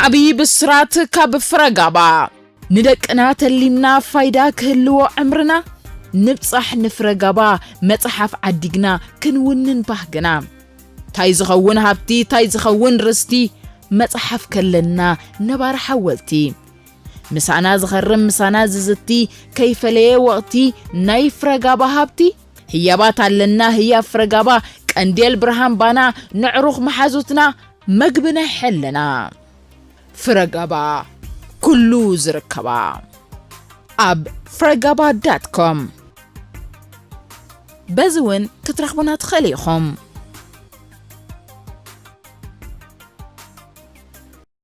ዓብዪ ብስራት ካብ ፍረጋባ! ንደቅና ተሊምና ፋይዳ ክህልዎ ዕምርና ንብጻሕ ንፍረጋባ መጽሓፍ ዓዲግና ክንውንን ባህግና። ታይ ዝኸውን ሃብቲ ታይ ዝኸውን ርስቲ መጽሓፍ ከለና ነባሪ ሓወልቲ። ምሳና ዝኸርም ምሳና ዝዝቲ ከይፈለየ ወቕቲ ናይ ፍረጋባ ሃብቲ። ህያባት ኣለና ህያብ ፍረጋባ ቀንዴል ብርሃን ባና ነዕሩኽ መሓዙትና መግቢ ናይ ሕልና ፍረጋባ ኩሉ ዝርከባ ኣብ ፍረጋባ ዳት ኮም በዚ እውን ክትረኽቡና ትኽእሉ ኢኹም።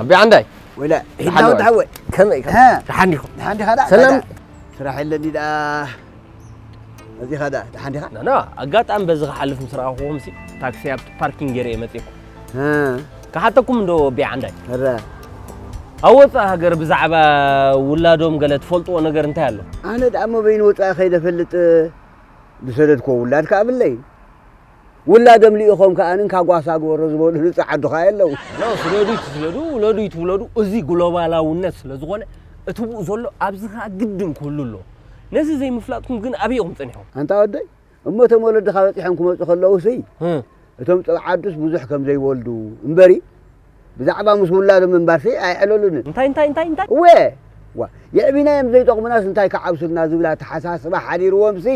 ኣቢ ዓንዳይ ወላ ሒድና ወዲ ሓወይ ከመይ ደሓን ዲኹም ደሓን ዲኻ ዳ ሰላም ስራሕ የለኒ ደኣ እዚኻ ደኣ ደሓን ዲኻ ና ኣጋጣሚ በዚ ክሓልፍ ምስ ረኣኹኹም ሲ ታክሲ ኣብቲ ፓርኪንግ ገይረ እየ መፂእኩ ክሓተኩም እንዶ ኣቢ ዓንዳይ ኣብ ወፃኢ ሃገር ብዛዕባ ውላዶም ገለ ትፈልጥዎ ነገር እንታይ ኣሎ ኣነ ደኣ መበይኑ ወፃኢ ከይደ ፈልጥ ዝሰደድክዎ ውላድ ከኣ ብለይ ውላዶም ልኢኾም ከኣ እንካ ጓሳ ግበሮ ዝበሉ ንጹህ ዓዱ ከኣ የለዉ። ሎ ስደዱ ይትስደዱ ውለዱ ይትውለዱ እዚ ግሎባላውነት ስለ ዝኾነ እቲ ብኡ ዘሎ ኣብዚ ከኣ ግድን ክህሉ ኣለዎ። ነዚ ዘይምፍላጥኩም ግን ኣበይ ኢኹም ጸኒሕኩም? ኣንታ ወደይ እሞ እቶም ወለድኻ በጺሖም ክመጹ ከለዉሲ እቶም ጸብዓዱስ ብዙሕ ከም ዘይወልዱ እምበሪ፣ ብዛዕባ ምስ ውላዶም ምንባርሲ ኣየዕለሉንን። እንታይ እንታይ እንታይ እንታይ? እወ! ዋእ! የዕቢናዮም ዘይጠቕሙናስ እንታይ ክዓብሱልና ዝብል ኣተሓሳስባ ሓዲርዎምሲ፣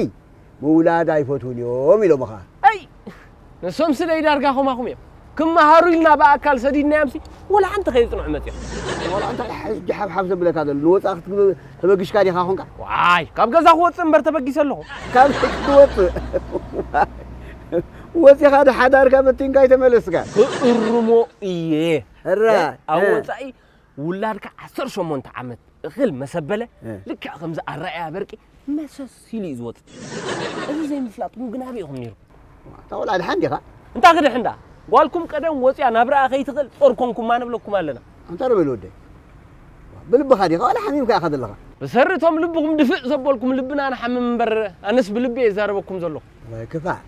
ምውላድ ኣይፈትዉን እዮም ኢሎምኻ። ኣይ! ንሶምሲ ደይ ዳርጋ ከማኹም እዮም። ክመሃሩ ኢልና ብኣካል ሰዲድናዮምሲ ወላ ሓንቲ ከየጽንዑ መጺኦም። ዋላ እንታይ ሕጂ ሓብሓብ ዘብለካ ዘሎ? ንወጻኢ ክትብል ተበጊስካ ዲኻ ኮንካ? ዋይ! ካብ ገዛ ክወጽእ እምበር ተበጊሰ ኣለኹ። ካብ ክወጽእ? ዋይ! ወጺኻ ዶ ሓዳርካ በቲንካ ኣይተመለስካን? ክእርሞ እየ ሕራይ፣ ኣብ እ። ወጻኢ ውላድካ ዓሰርተ ሸሞንተ ዓመት እኽል መሰበለ እ። ልክዕ ከምዚ ኣረኣያ በርቂ መሰስ ኢሉ እዩ ዝወጽእ እዚ ዘይምፍላጥኩም ግን ኣበይ ኢኹም ነይርኩም እታ ቆልዓ ድሓን ዲኻ? እንታ ክድሕን ደኣ ጓልኩም ቀደም ወጽያ ናብራኣ ከይትኽእል ጾር ኮንኩማ ንብለኩም ኣለና። ኣንታ ዶ በል ወደይ ብልብኻ ዲኻ ዋላ ሓሚምካ ኢኻ ዘለኻ? ብሰሪ እቶም ልብኹም ድፍእ ዘበልኩም ልብና ንሓምም እምበር ኣነስ ብልቢ እየ ዝዛረበኩም ዘለኹ። ወይ ክፋእ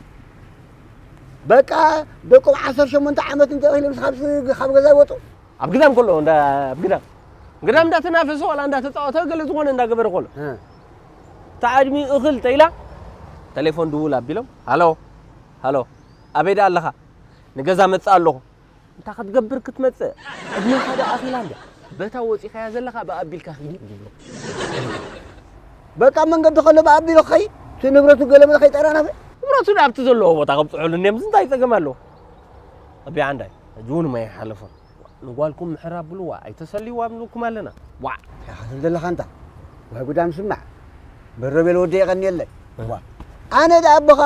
በቃ ደቆም ዓሰርተ ሸሞንተ ዓመት እንተ ኢሎም ካብ ገዛ ይወጡ ኣብ ግዳም ከሎ እንዳ ኣብ ግዳም ግዳም እንዳተናፈሰ ዋላ እንዳተፃወተ ገለ ዝኾነ እንዳገበረ ከሎ ተዓድሚ እኽል ተኢላ ቴሌፎን ድውል ኣቢሎም ሃሎ ሃሎ ኣበይ ደኣ ኣለኻ ንገዛ መፅእ ኣለኹ እንታይ ክትገብር ክትመጽእ ዕድሜኻ ዶ ኣኺላ እንድያ በታ ወጺኻያ ዘለኻ ብኣቢልካ ኺድ ይብልዎ በቃ መንገዲ ከሎ ብኣቢሉ ክኸይድ እቲ ንብረቱ ገለመለ ከይጠራነፈ ንብረቱ ኣብቲ ዘለዎ ቦታ ከብፅሑሉ እኒኦም እንታይ ፀገም ኣለዎ ኣቢ ዓንዳይ ሕጂ እውን ማይ ሓለፎም ንጓልኩም ምሕር ኣብልዋ ኣይተሰልይዋ ኣብልኩም ኣለና ዋዕ ያኸትን ዘለኻ እንታ ዋይ ጉዳም ስማዕ በሮቤል ወደ የቐኒየለይ ዋእ ኣነ ደኣ ኣቦኻ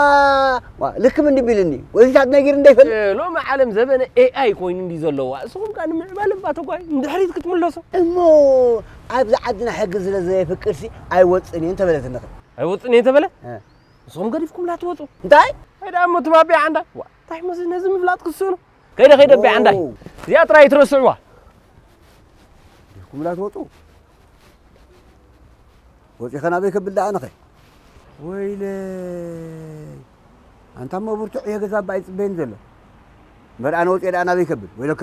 ዋእ ልክም እንዲ ቢልኒ ወዚታት ነጊር እንደ ይፈልጥ እ፣ ሎሚ ዓለም ዘበነ ኤኣይ ኮይኑ እንዲ ዘለዋ እስኹም ከኣ ንምዕባል እባ ተጓዩ ንድሕሪት ክትምለሱ እሞ ኣብዚ ዓድና ሕጊ ስለ ዘየፍቅድሲ ኣይወጽእን እየ እንተበለትኒ ኸ ኣይወጽእን እየ እንተበለ እ፣ እስኹም ገዲፍኩምላ ትወጹ እንታይ? እንታይ ደኣ እሞ ትባቢዕ ኣንዳ ዋእ እንታይ እሞ እዚ ነዚ ምፍላጥ ክስእኑ ከይደ ከይደ ኣቤ ዓንዳይ ኦው፣ እዚኣ ጥራይ ኣይትረስዕዋ። ዲኹምላ ትወጹ? ወጺኸ ናበይ ከብል ደኣ ኣነኸ? ወይለይ ኣንታ እሞ ብርቱዕ እየ ገዛ እባ ኣይጽበየኒ ዘሎ። እምበር ኣነ ወጺኤ ደኣ ናበይ ከብል ወይለከ።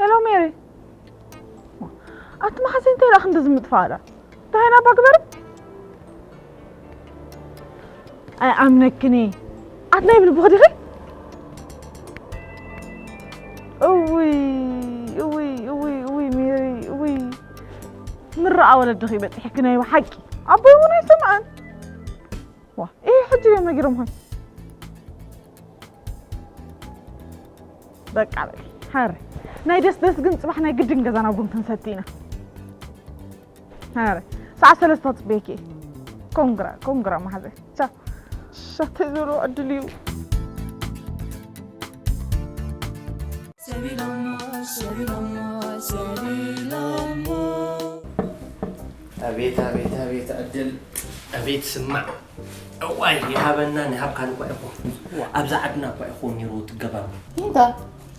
ሄሎ ሜሪ ኣቲ መሓዘይ እንታይ ደኣ ክንዲ ዝምጥፋእላ እንታይ ኢና ባግበር ኣይኣምነክኒ ኣት ናይ ብል ብኽዲኺ እውይ እውይ እውይ እውይ ሜሪ እውይ ምራኣ ወለድኺ በፂሕኪ ናይ ብሓቂ ኣቦይ እውን ኣይሰምዐን ዋ ይሄ ሕጂ እዮም ነጊሮም ሆን በቃ በል ሀረ ናይ ደስ ደስ ግን ፅባሕ ናይ ግድን ገዛና ቡን ክንሰቲ ኢና ሀረ ሰዓት ሰለስተ ክፅበየኪ ኮንግራ ኮንግራ ማሓዘ ቻ ሻተይ ዘሎ ዕድል እዩ ሰቢሎሞ ሰቢሎሞ ሰቢሎሞ ኣቤት ኣቤት ኣቤት ዕድል ኣቤት ስማዕ እዋይ ይሃበናን ይሃብካን እኳ ኢኹም ኣብዛ ዓድና እኳ ኢኹም ነይሩ ትገባሩ እንታይ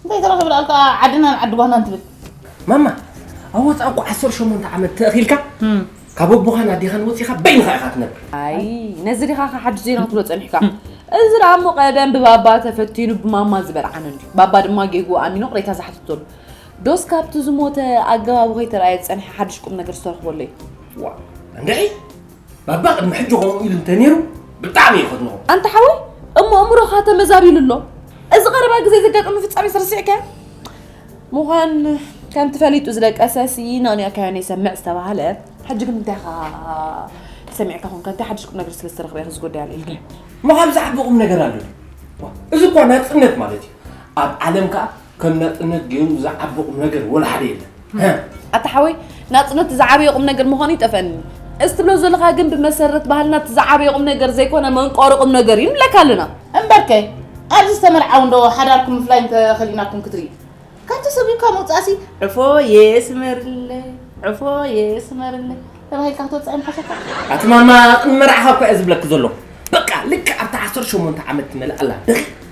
እንታይ ተረኺብና ኣልካ ዓድናን ዓዲ ጓናን ትብል ማማ ኣብ ወፃእ እኮ ዓሰርተ ሸሞንተ ዓመት ተእኺልካ ካብ ኣቦኻን ኣዴኻን ወፂኻ በይንኻ ኢኻ ትነብር ኣይ ነዚ ዲኻ ካ ሓድሽ ዜና ክትብሎ ፀኒሕካ እዚ ደኣ እሞ ቀደም ብባባ ተፈቲኑ ብማማ ዝበርዓን እንዲ ባባ ድማ ጌጉ ኣሚኑ ቅሬታ ዝሓተተሉ ዶስ ካብቲ ዝሞተ ኣገባቡ ከይተርኣየ ዝጸንሐ ሓድሽ ቁም ነገር ዝተረኽበሉ እዩ? ዋእ እንድዒ ባባ ቅድሚ ሕጂ ከምኡ ኢሉ እንተነይሩ ብጣዕሚ እዩ ከድንቖ። ኣንታ ሓወይ እሞ ኣእምሮኻ ተመዛቢሉ ኣሎ። እዚ ቀረባ ግዜ ዘጋጠመ ፍጻሜ ስርስዕካዮ ምዃን ከምቲ ፈሊጡ ዝደቀሰ ስይና ንያካዮ ነይሰምዕ ዝተባህለ ሕጂ ግን እንታይ ኢኻ ሰሚዕካ ኮንካ እንታይ ሓድሽ ቁም ነገር ስለ ዝተረኽበ ኢኻ እዚ ጉዳይ ኣልዒልካ እሞ ካብ ዝዓቢ ቁም ነገር ኣሎ እዚ እኳ ናጽነት ማለት እዩ ኣብ ዓለም ከዓ ከም ናጽነት ገይሩ ዝዓቢ ቁም ነገር ወላ ሓደ የለን። ኣታ ሓወይ ናጽነት ዝዓበየ ቁም ነገር ምዃኑ ይጠፈኒ እዚ ትብሎ ዘለኻ ግን ብመሰረት ባህልና እቲ ዝዓበየ ቁም ነገር ዘይኮነ መንቆሪ ቁም ነገር እዩ ንብለካ ኣለና እምበርከ ኣብዚ ዝተመርዓው እንዶ ሓዳርኩም ምፍላይ እንተኸሊእናኩም ክትርኢ ካብቲ ሰብዩ ካብ ምውፃእሲ ዕፎ የስመርለ ዕፎ የስመርለ ተባሂልካ ክትወፅዕ ምሓሸካ ኣቲ ማማ ቅመርዓኻ እኳ እየ ዝብለኪ ዘሎ በቃ ልክዕ ኣብቲ ዓሰርተ ሸሞንተ ዓመት ትመልእ ኣላ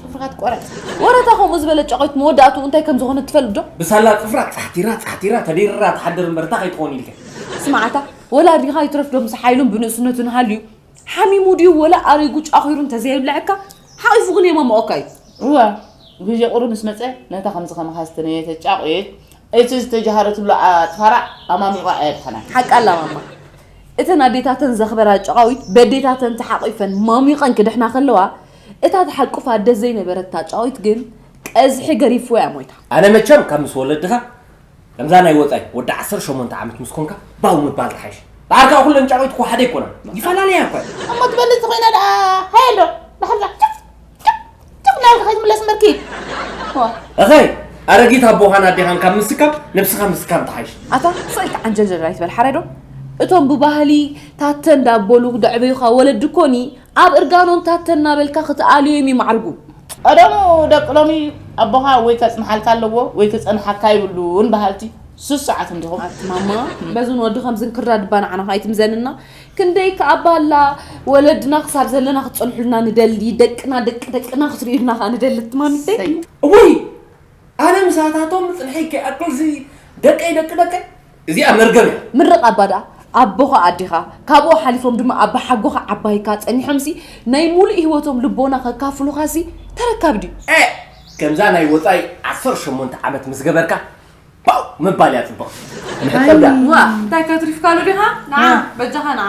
ጽፍርኻት ቆረጽ ወረታ ከምኡ ዝበለ ጨቆይት መወዳእቱ እንታይ ከም ዝኾነ ትፈልጥ ዶ ብሳላ ጽፍራ ጻሕቲራ ጻሕቲራ ተዲርራ ትሓድር እምበር እታ ከይትኾን ኢልካ ስማዓታ ወላ ኣዲኻ ይትረፍ ዶ ምስ ሓይሉን ብንእስነቱን ሃልዩ ሓሚሙ ድዩ ወላ ኣሪጉ ጫኺሩ እንተዘየብልዐካ ሓቒፉ ግን የማምኦካ እዩ እወ ግዜ ቁሩብ ምስ መፀ ነታ ከምዚ ከማኻ ዝተነየተ ጫቑየት እቲ ዝተጀሃረ ትብሎ ኣፅፋራ ኣማሚቋ ኣየድሓናን ሓቂ ኣላ ማማ እተን ኣዴታተን ዘኽበራ ጨቓዊት በዴታተን ተሓቒፈን ማሚቐን ክድሕና ከለዋ እታ ትሓቁፋ ኣደ ዘይነበረት ታጫዊት ግን ቀዝሒ ገሪፍዎያ ሞይታ። ኣነ መቸም ካብ ምስ ወለድኻ ከምዛ ናይ ወጻይ ወዲ ዓሰርተ ሸሞንተ ዓመት ምስ ኮንካ ባው ምባል ትሓይሽ ደሓር ከኣ ኩለን ጫቂት እኮ ሓደ ኣይኮናን ይፈላለያ እኮ እየን እሞ ትበልጽ ኮይና ደኣ ሃየ ኣሎ ደሓር ደኣ ጭፍ ጭፍ ጭፍ ናብራ ከይትምለስ እምበር ኪድ እኸይ ኣረጊት ኣቦኻን ኣዴኻን ካብ ምስካም ነብስኻ ምስካም ትሓይሽ ኣታ ሰይ ተዓንጀልጀል ኣይትበል ሓራይ ዶ እቶም ብባህሊ ታተ እንዳበሉ ደዕበዩኻ ወለዲ እኮ ኒ ኣብ እርጋኖም ታተ እናበልካ ክትኣልዮም እዩ ማዕርጉ። ቀደሙ ደቂ ሎሚ ኣቦኻ ወይ ከጽንሓልካ ኣለዎ ወይ ክጸንሓካ የብሉን በሃልቲ ስሱዓት እንዲኹም። ኣቲ ማማ በዝን ወዲ ከምዝን ክርዳድ እባ ንዓና ኣይትምዘንና ክንደይ ከኣ ባላ ወለድና ክሳብ ዘለና ክትጸንሑልና ንደሊ ደቅና ደቂ ደቅና ክትርእዩልና ከኣ ንደሊ ኣቲ ማሚተይ። እሰይ እውይ ኣነ ምሳታቶም ምጽንሐይ ከይኣክል እዚ ደቀይ ደቂ ደቀይ እዚኣ መርገም እያ። ምርቕ ኣባ ደኣ ኣቦኻ ኣዴኻ ካብኡ ሓሊፎም ድማ ኣባሓጎኻ ዓባይካ ጸኒሖምሲ ናይ ሙሉእ ሂወቶም ልቦና ከካፍሉኻሲ ተረካቢ ድዩ? ኤእ ከምዛ ናይ ወጻኢ ዓሰርተ ሸሞንተ ዓመት ምስ ገበርካ ፓው ምባል እያ ጽብቕቲ። መሕጸብ ደኣ። ዋእ እንታይ ከትሪፍካሉ ዲኻ ንዓ በጃኻ ንዓ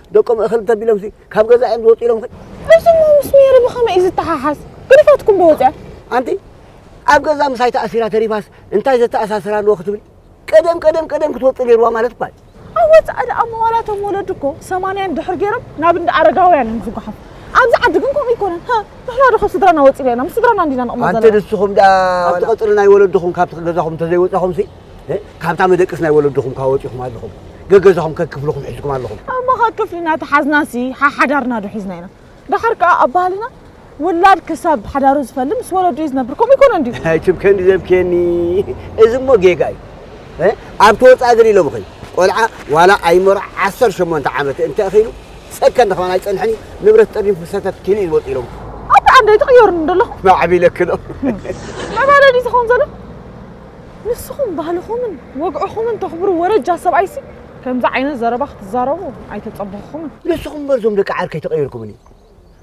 ደቆም እኽል እንተቢሎምሲ ካብ ገዛ እዮም ዝወፁ ኢሎም ኸ እሱሞ ምስ ሜሪ ብኸመይ እዩ ዝተሓሓዝ? ግድፋትኩም ዶ ወፀ? ኣንቲ ኣብ ገዛ ምሳይ ተኣሲራ ተሪፋስ እንታይ ዘተኣሳስር ኣለዎ ክትብል ቀደም ቀደም ቀደም ክትወፅእ ነይርዋ ማለት እኳ እዩ። ኣብ ወፃኢ ደኣ መዋላቶም ወለዲ እኮ ሰማንያን ድሕር ገይሮም ናብ እንዳ ኣረጋውያን እዮም ዝጓሓፉ። ኣብዚ ዓዲ ግን ከምኡ ኣይኮነን። ሃ ንሕና ዶ ካብ ስድራና ወፂና ኢና? ምስ ስድራና እንዲና ንቕመጥ ዘለና። ኣንቲ ንስኹም ደኣ ኣብቲ ቀፅሪ ናይ ወለድኹም ካብቲ ገዛኹም እንተዘይወፃኹምሲ ካብታ መደቅስ ናይ ወለድኹም ካ ወጺኹም ኣለኹም ገገዛኹም ከክፍልኹም ሕዝኩም ኣለኹም ኣማኻ ክፍልና ተሓዝናሲ ሓሓዳርና ዶ ሒዝና ኢና ደሓር ከኣ ኣብ ባህልና ውላድ ክሳብ ሓዳሩ ዝፈል ምስ ወለዱ እዩ ዝነብር ከምኡ ይኮነ እንዲ ትብከኒ ዘብኬኒ እዚ እሞ ጌጋ እዩ ኣብ ተወፃእ ግን ኢሎም ኸይ ቆልዓ ዋላ ኣይመሮ ዓሰር ሸሞንተ ዓመት እንተ እኺሉ ሰከንድ ኸማን ኣይፀንሐን እዩ ንብረት ጠሪፉ ሰተት ኪሉ እዩ ዝወፅ ኢሎም ኣብ ዓንደይ ትቕየሩኒ ደለኹ ማዕቢለክሎ መባለዲ ዝኸውን ዘሎ ንስኹም ባህልኹምን ወግዕኹምን ተኽብሩ ወረጃ ሰብኣይሲ ከምዚ ዓይነት ዘረባ ክትዛረቡ ኣይተጸበኹኹምን። ንስኹም እምበር እዞም ደቂ ዓርከይ ተቐይርኩምኒ።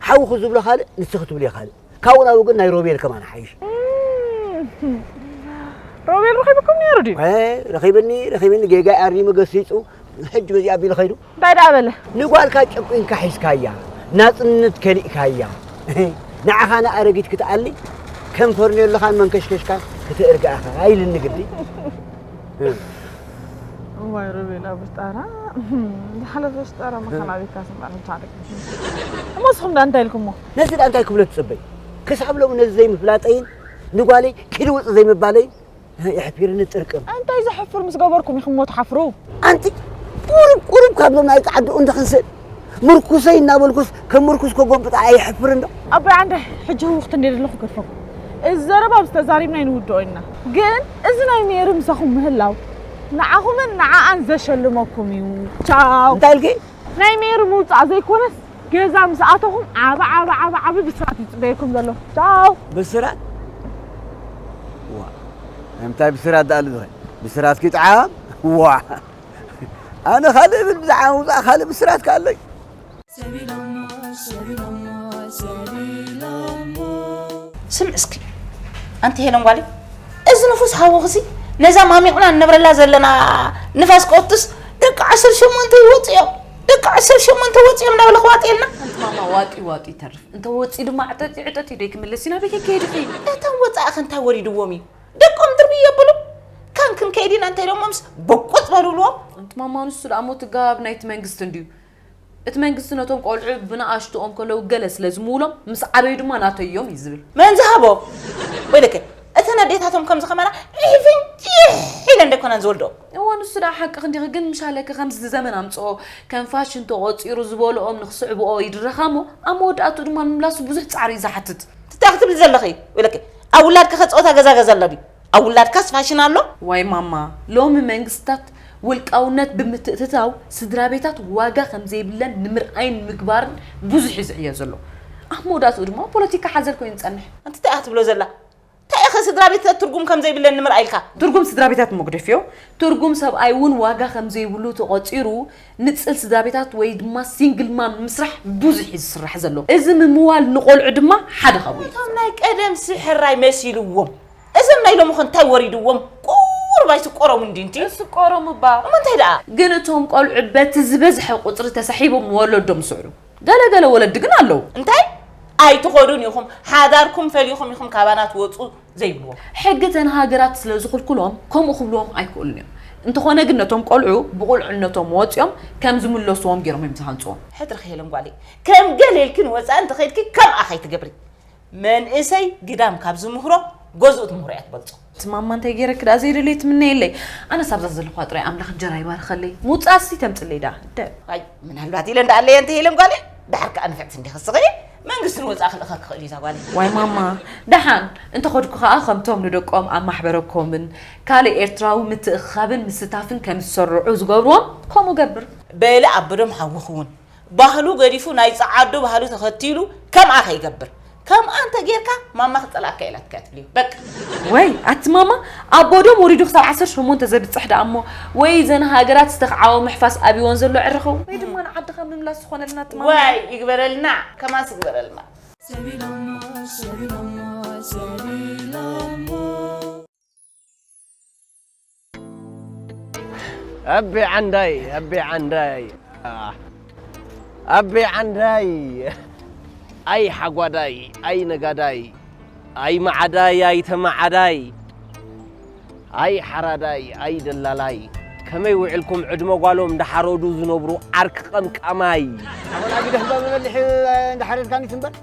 ሓውኺ ዝብሎ ካልእ ንስኺ ትብልዮ ካልእ። ካብኡ ናብኡ ግን ናይ ሮቤል ከማን ይሓይሽ። ሮቤል ረኺብኩም ነይሩ ድዩ? ረኺብኒ ረኺብኒ ጌጋይ ኣሪሙ ገሲጹ ሕጂ በዚ ኣቢሉ ከይዱ እንታይ ደኣ በለ ንጓልካ ጨቊንካ ሒዝካያ ናጽነት ከሊእካያ ንዓኻ ንኣረጊት ክትኣሊ ከም ፈርኔሎኻን መንከሽከሽካን ክትእርጋ ኢኻ ኢልኒ ግዲ እዋይ ሮቤላ ብስጣራ ዝሓለፈ ስጣራ መኻና ቤትካ ስምባር ምታደግ እሞ እስኹም ዳ እንታይ ኢልኩሞ ነዚ ዳ እንታይ ክብሎ ትጽበይ ክሳብ ሎሚ ነዚ ዘይምፍላጠይን ንጓለይ ክልውጥ ዘይምባለይን ናይ ኣሕፊርኒ ጥርቅም እንታይ ዘሕፍር ምስ ገበርኩም ኢኹም እሞ ትሓፍሩ ኣንቲ ቁሩብ ቁሩብ ካብዞም ናይ ጻዕድኡ እንተክንስእ ምርኩሰይ እናበልኩስ ከም ምርኩስ ከጎብጣ ኣይሕፍር እንዶ ኣቦይ ዓንደ ሕጂ ህውኽቲ እንደ ዘለኹ ገድፈኩም እዚ ዘረባ ኣብ ዝተዛሪብና ይንውድኦ ኢና ግን እዚ ናይ ሜሪ ምሳኹም ምህላው ንዓኹምን ንዓኣን ዘሸልመኩም እዩ ቻው እንታይ ኢልኪ ናይ ሜሪ ምውፃእ ዘይኮነስ ገዛ ምስ ኣተኹም ዓቢ ዓቢ ዓቢ ዓቢ ብስራት እዩ ዝጽበየኩም ዘሎ። ቻው። ብስራት ዋእ ናይ ምንታይ ብስራት ደኣሉ ዝኸ ብስራት ኪጥዓም ዋእ ኣነ ካልእ እብል ብዛዕባ ምውጻእ ካልእ ብስራት ከ ኣሎይ። ስምዒ እስኪ ኣንቲ ሄለን ጓለይ እዚ ንፉስ ሃወኽሲ ነዛ ማሚቕና ንነብረላ ዘለና ንፋስ ቀውትስ ደቂ ዓሰርተ ሸሞንተ ይወፁ እዮም ደቂ ዓሰርተ ሸሞንተ ወፂኦም ናብ ለኽዋጤልና ሓንቲ ማማ ዋጢ ዋጢ ይተርፍ እንተ ወፂ ድማ ዕጠጢ ዕጠጢ ደይ ክምለስ ኢና ቤት ከይድ ኺ እቶም ወፃእኺ እንታይ ወሪድዎም እዩ ደቆም ድርብይ የብሉ ካን ክንከይድ ኢና እንታይ ደሞምስ በቆፅ በሉልዎም ኣንቲ ማማ ንሱ ደኣ ሞት ጋብ ናይቲ መንግስቲ እንድዩ እቲ መንግስቲ ነቶም ቆልዑ ብንኣሽትኦም ከለዉ ገለ ስለ ዝምውሎም ምስ ዓበዩ ድማ ናተዮም እዩ ዝብል መን ዝሃቦ ወይለከ እተን ኣዴታቶም ከምዚ ከማና ዒፍንጭሕ ኢለን ደይኮናን ዝወልድኦም እወ ንሱ ደኣ ሓቅኺ እንዲኺ ግን ምሻለኪ ከምዚ እዚ ዘመን ኣምጽኦ ከም ፋሽን ተቖጺሩ ዝበልኦም ንኽስዕብኦ ይድረኻ እሞ ኣብ መወዳእትኡ ድማ ምምላሱ ብዙሕ ጻዕሪ እዩ ዝሓትት። እንታይ ኢኺ ትብሊ ዘለኺ ኢለኪ ኣብ ውላድኪኸ ጸወታ ገዛ ገዛ ኣሎ ድዩ ኣብ ውላድካስ ፋሽን ኣሎ። ዋይ ማማ ሎሚ መንግስታት ውልቃውነት ብምትእትታው ስድራቤታት ዋጋ ከምዘይብለን ንምርኣይን ንምግባርን ብዙሕ እዩ ዝዕዮ ዘሎ ኣብ መወዳእትኡ ድማ ፖለቲካ ሓዘል ኮይኑ ዝጸንሕ። ኣንቲ እንታይ ኢኻ ትብሎ ዘላ ታይኸ ስድራቤትታት ትርጉም ከም ዘይብለን ንምርኣይ ኢልካ? ትርጉም ስድራቤታት መጉደፊዮ ትርጉም ሰብኣይ እውን ዋጋ ከም ዘይብሉ ተቖጺሩ ንጽል ስድራቤታት ወይ ድማ ሲንግል ማም ንምስራሕ ብዙሕ እዩ ዝስራሕ ዘሎ። እዚ ምምዋል ንቖልዑ ድማ ሓደ ካብኡ እዩ። እቶም ናይ ቀደምሲ ሕራይ መሲልዎም እዞም ናይ ሎምኸ እንታይ ወሪድዎም ቁሩብ ኣይስቆሮም እንድዩ እንት እስቆሮም እባ እሞ እንታይ ደኣ። ግን እቶም ቆልዑ በቲ ዝበዝሐ ቁጽሪ ተሳሒቦም ወለዶም ይስዕሩ። ገለ ገለ ወለዲ ግን ኣለዉ። እንታይ ኣይትኸዱን ኢኹም ሓዳርኩም ፈሊኹም ኢኹም ካባና ትወጹ ዘይብልዎም። ሕጊ እተን ሃገራት ስለ ዝኽልክሎም ከምኡ ክብልዎም ኣይክእሉን እዮም። እንተኾነ ግን ነቶም ቆልዑ ብቑልዕነቶም ወጺኦም ከም ዝምለስዎም ጌሮም እዮም ዝሃንጽዎም። ሕድርኺ ሄለን ጓለይ ከም ገለ ኢልኪ ንወጻኢ እንተ ኸይድኪ ከምኣ ከይትገብሪ። መንእሰይ ግዳም ካብ ዝምህሮ ገዝኡ ትምህሮ እያ ትበልፆ። እቲ ማማ እንታይ ገይረኪ ደኣ ዘይደለየ ትምነየለይ ኣነስ ኣብዛ ዘለኹዋ ጥራይ ኣምላኽ እንጀራ ይባርኸለይ ምውፃእ እስቲ ተምፅለይ ደኣ እደ ኣይ ምናልባት ኢለን ደኣ ኣለየን ተይለን ጓለይ ደሓር ከዓ ንፍዕቲ እንዲኺ ስኽሪ መንግስቲ ንወፃእ ክልእኸ ክኽእል እዩ እዛ ጓለይ ዋይ ማማ ደሓን እንተኸድኩ ከዓ ከምቶም ንደቆም ኣብ ማሕበረ ኮምን ካልእ ኤርትራዊ ምትእኽኻብን ምስታፍን ከም ዝሰርዑ ዝገብርዎም ከምኡ ገብር በለ ኣበዶም ሓውኺ እውን ባህሉ ገዲፉ ናይ ጸዓዱ ባህሉ ተኸቲሉ ከምኣ ከይገብር ከምኣ እንተ ጌርካ ማማ ክጸልኣካ እየ ኢላትካያ ትብል እዩ በቃ። ወይ ኣቲ ማማ ኣቦ ዶም ወሪዱ ክሳብ ዓሰርተ ሸሞንተ ዘብጽሕ ደኣ እሞ ወይ እዘን ሃገራት ዝተክዓወ ምሕፋስ ኣብይወን ዘሎ ዕረ ኸው ወይ ድማ ንዓድኻ ምምላስ ዝኾነልና ኣቲ ማማ። ዋይ ይግበረልና ከማንስ ይግበረልና። ሰቢሎሞ ሰቢሎሞ ሰቢሎሞ ኣቤ ዓንዳይ ኣቤ ዓንዳይ ኣቤ ዓንዳይ ኣይ ሓጓዳይ ኣይ ነጋዳይ ኣይ መዓዳይ ኣይ ተመዓዳይ ኣይ ሓራዳይ ኣይ ደላላይ ከመይ ውዕልኩም ዕድመ ጓሎም እንዳሓረዱ ዝነብሩ ዓርኪ ቀምቃማይ ኣወላጊ ደህባ መመልሒ እንዳሓረድካኒ ትንበር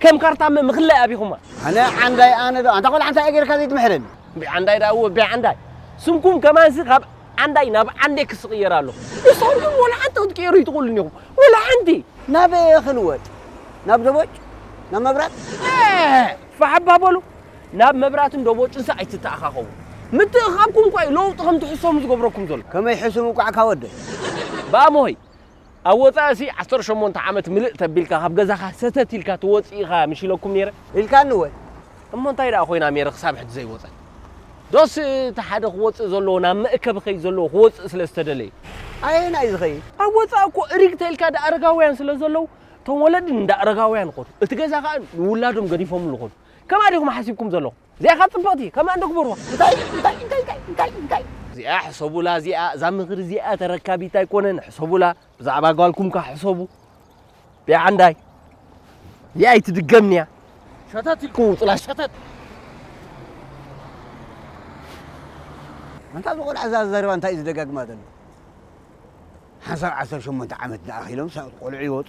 ከም ካርታ እመ ምክላይ ኣቢኹማ። ኣነ ዓንዳይ ኣነ ዶ ኣንታ ቆልዓ እንታይ ገይርካ ዘይትምሕረኒ። እምቢ ዓንዳይ ደኣ እወ እቢ ዓንዳይ። ስምኩም ከማንሲ ካብ ዓንዳይ ናብ ዓንዴክስ ዝቕየር ኣሎ። ንስኹም ወላ ሓንቲ ክትቅየሩ ኣይትኽእሉን ኢኹም ወላ ሓንቲ። ናበይ እየ ክልወጥ ናብ ደቦጭ ናብ መብራት። ኤህ ፋሕ እባ በሉ ናብ መብራትን ደቦጭንሲ ኣይትተኣኻኸቡ። ምትእኽኻብኩም እኳ እዩ ለውጢ ከም ትሕሰሙ ዝገብረኩም ዘሎ። ከመይ ሕሱም እንቋዕ እካ ወደይ። ብኣሞሆይ ኣብ ወጻኢ'ሲ ዓሰርተ ሸሞንተ ዓመት ምልእ ተቢልካ ካብ ገዛኻ ሰተት ኢልካ ትወጽእ ኢኻ ምሽ ኢለኩም ኔረ? ኢልካኒ ወል እሞ እንታይ ደኣ ኮይና ሜሪ ክሳብ ሕጂ ዘይወጸት? ዶስ እቲ ሓደ ክወጽእ ዘለዎ ናብ መእከቢ ከይዲ ዘለዎ ክወጽእ ስለ ዝተደለዩ? ኣየናይ ዝኸይድ? ኣብ ወጻኢ እኮ እሪግ ተልካ ደኣ ኣረጋውያን ስለ ዘለዉ እቶም ወለዲ ንደኣ ኣረጋውያን ይኸዱ እቲ ገዛ ከኣ ንውላዶም ገዲፎምሉ ይኸዱ። ከምኣ ዲኹም ሓሲብኩም ዘለኹም? እዚኣ ከኣ ጽብቕቲ ከምኣ እንዶ ግበርዋ። እንታይ እንታይ እንታይ እንታይ እንታይ እንታይ። እዚኣ ሕሰቡላ እዚኣ እዛ ምኽሪ እዚኣ ተረካቢት ኣይኮነን ሕሰቡላ ብዛዕባ ጓልኩም ከ ሕሰቡ ቢዓ እንዳይ እዚኣ ኣይትድገምንያ ሸተት ኢልኩም ውጹላ ሸተት ኣንታ ዝቆልዓ እዛ ዘረባ እንታይ እዩ ዝደጋግማ ዘሎ ሓንሳብ ዓሰርተ ሸሞንተ ዓመት ዝኣኺሎም ቆልዑ ይወጡ